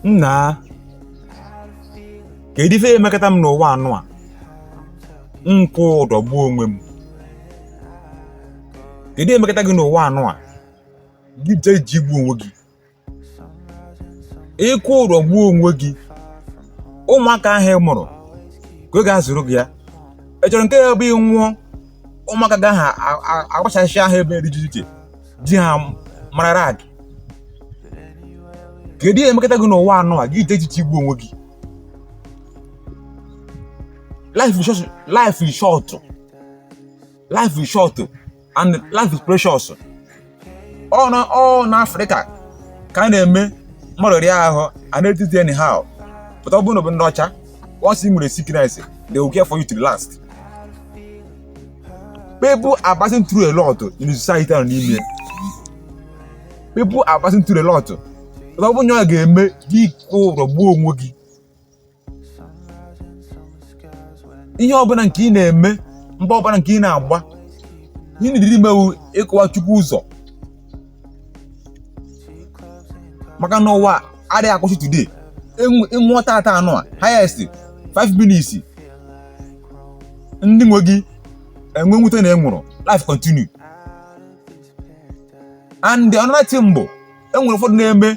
nna kedu ife emekata m n'ụwa anụ a m kwụ ụdọ gbuo onwe m kedu emekata gị n'ụwa anụ a gị jee ji igbu onwe gị ịkwụ ụdọ gbuo onwe gị ụmụaka ahụ ị mụrụ ka ọ ga-azụrụ gị ya ị chọrọ nke ya bụ ị nwụọ ụmụaka gị ahụ agbasasịa ebe dị iche iche di ha marara gị kedu ihe emekata gị n'ụwa anụ a gị iche echiche igbu onwe gị life is short life is short and life is precious ọ na ọ na afrịka ka a na-eme mmadụ rịa ahụ a na-etreati anyhow but ọ bụrụ na ọ bụ ndị ọcha once you nwere sickness they will care for you to the last people are passing through a lot in the society nọ n'ime people are passing through a lot but ọ bụrụ na ọ ga-eme gị kwụ ụdọ gbuo onwe gị ihe ọbụla nke ị na-eme mbọ ọbụla nke ị na-agba ihe na-ediri ime wụ ịkụwa chukwu ụzọ maka na ụwa adịghị akwụsị today ị nwụọ tata anụ a highest 5 minutes ndị nwe gị enwee mwute na ị nwụrụ life continue and another thing bụ enwere ụfọdụ na-eme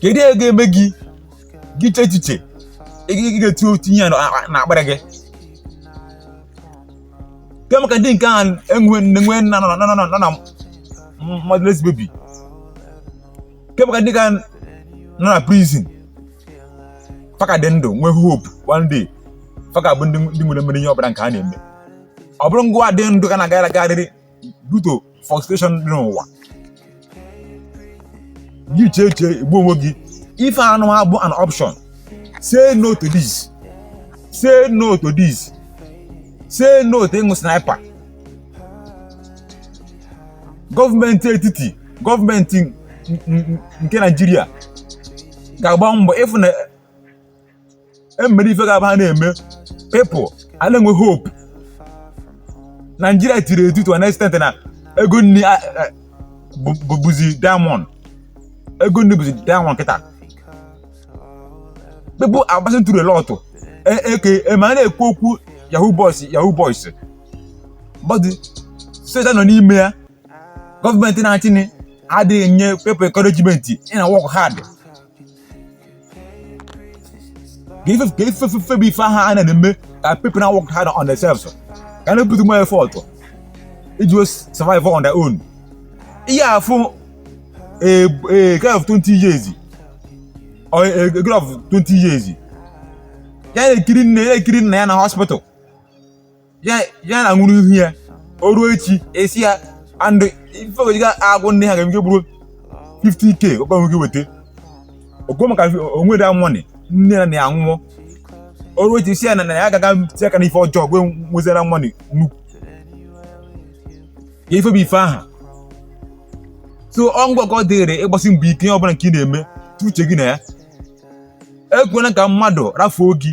kedu ihe ga-eme gị gị che echiche ị ga-eti otu ihe na akpịrị gị kee maka ndị nke ahụ enwe nne nwe nna nọ na nọ na motherless baby kee maka ndị ka nọ na prison fa ka dị ndụ nwee hope one day fa ga-abụ ndị nwere mmeri ihe ọbụla nke a na-eme ọ bụrụ ngwa dị ndụ ka na-agagharịrị due to frustration dị n'ụwa gị chee chee igbu onwe gị ife anụ a abụ an option say no to this say no to this say no to ịṅụ sniper gọọmenti etiti gọọmenti nke naijiria ga-agba mbọ ịfụ na emere ife ga-abụ a na-eme people a na-enwe hope naijiria tiri etu to an extent na ego nri a- a- bụ- bụ- bụzi diamond ego nri bụzi diamond kịta people are passing through a lot E- eke ema a na-ekwu okwu yahoo boys yahoo boys but soja nọ n'ime ya gọọmenti na-achị anyị adịghị enye people encouragement ị na work hard ka ife ka ife fefe bụ ife aha a na-eme ka people na work hard on themselves ka na put more effort iji wee survive on their own ị ya-afụ a guy of 20 years or a, a girl of 20 years ya na-ekiri nne ya na-ekiri nna ya na hospital ya na nwụrụ ihu ya o ruo echi esi ya and ife ego ji ga-agwọ ndị ha ga nke bụrụ 50k ọkpa nwoke weta ego maka o nweda money nne na nna ya nwụọ o ruo echi si ya na ya agaga tie aka n'ife ọjọọ ji wee nwezera money nnukwu ya ifebi ife aha so ọ ngịwa ka ọ dịrị ịgbasi mbọ ike ihe ọbụla nke ị na-eme tie uche gị na ya ekwena ka mmadụ rafuo gị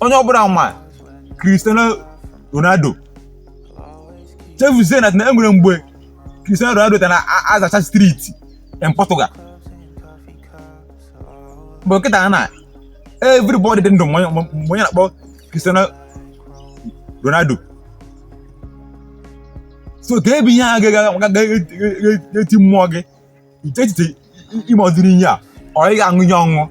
onye ọbụla ma Cristiano Ronaldo chefuzie na e nwere mgbe Cristiano Ronaldo ka na-azacha street in Portugal but kịta na everybody dị ndụ ma onye na-akpọ Cristiano Ronaldo so ka ebe ihe a ga-eti mmụọ gị nke echiche ime ụdịrị ihe a or ị ga-aṅụ ihe nwụọ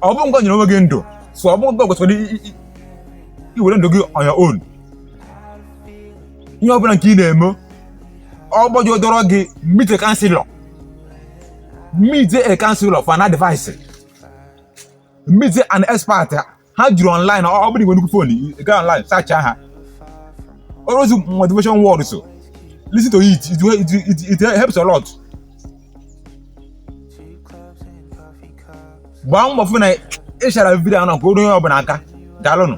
ọ bụ ngịwa nyere onwe gị ndụ so ọ bụ ngịwa kwesịrị iwere ndụ gị on your own ihe ọbụla nke ị na-eme ọ gbọjọ dọrọ gị meet a counselor meet a counselor for an advice meet an expert ha juru online ọ ọ bụrụ i nwee nnukwu phone ị gaa online search ha all those motivation words so listen to it it, it, it, it helps a lot gbaa mbọ fụ na ị share video ahụ na ka o ruo onye ọbụla aka daalụnụ